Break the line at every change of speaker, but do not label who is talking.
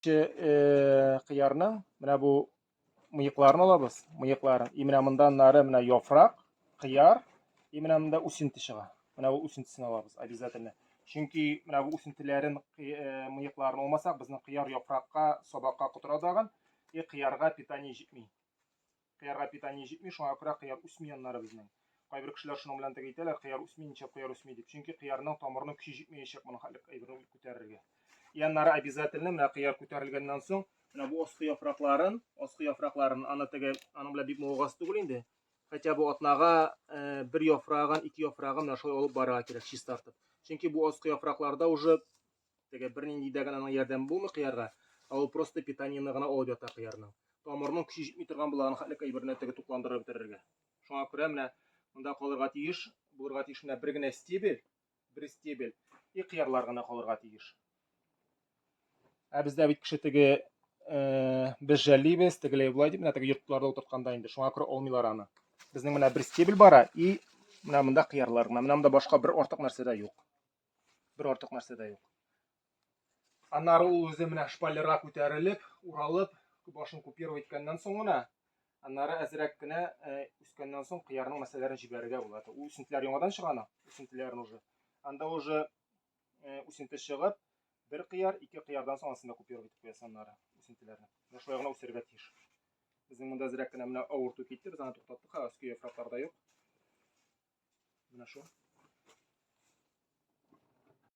Э, кыярның менә бу мыекларын алабыз мыекларын и менә мында нары менә яфрак кыяр и менә мында үсенте чыга менә бу үсентесен алабыз обязательно чөнки менә бу үсентеләрен э, мыекларын алмасак безнең кыяр яфракка сабакка котыра тагын и кыярга питание җитми Кыярга питание җитми, шуңа күрә кыяр үсми аннары безнең. Кайбер кешеләр шуның белән тәк әйтәләр, кыяр үсми, ничәп кыяр үсми дип. Чөнки кыярның тамырының көче җитмәячәк моның хәтлек әйберне күтәрергә. И аннары обязательно менә кыяр күтәрелгәннән соң, менә бу аскы яфракларын, аскы яфракларын, аны теге, аның белән бик мавыгасы түгел инде. Хотя бы атнага э, бер яфрагын, ике яфрагын менә шулай алып барырга кирәк, чистартып. Чөнки бу аскы яфракларда уже Теге бернинди дә генә аның ярдәме булмый кыярга, ә ул просто питаниены гына алып ята кыярның. Тамырның көче җитми торган булган хәтлек әйберне теге тукландырып бетерергә. Шуңа күрә менә монда калырга тиеш, булырга тиеш менә бер генә стебель, бер стебель и кыярлар гына калырга тиеш. Ә бездә бит кеше теге э, без жәллибез, тегеләй булай дип, менә теге йортларда утыртканда инде шуңа күрә алмыйлар аны. Безнең менә бер стебель бара и менә монда кыярлар гына. Менә монда башка бер артык нәрсә дә юк. Бер артык нәрсә дә юк. Аннары ул үзе менә шпалерга күтәрелеп, уралып, башын купировать иткәннән соң гына, аннары әзрәк кенә э, үскәннән соң кыярның мәсәләрен җибәрергә була. Ул үсентеләр яңадан чыгана, үсентеләрен уже. Анда уже э, үсенте чыгып, бер кыяр, ике кыярдан соң ансында купировать итеп куясың аннары үсентеләрне. Шулай гына үсәргә тиеш. Безнең монда зрәк кенә менә авырту китте, без аны туктаттык, ха, өске яфраклар да юк. Менә шул.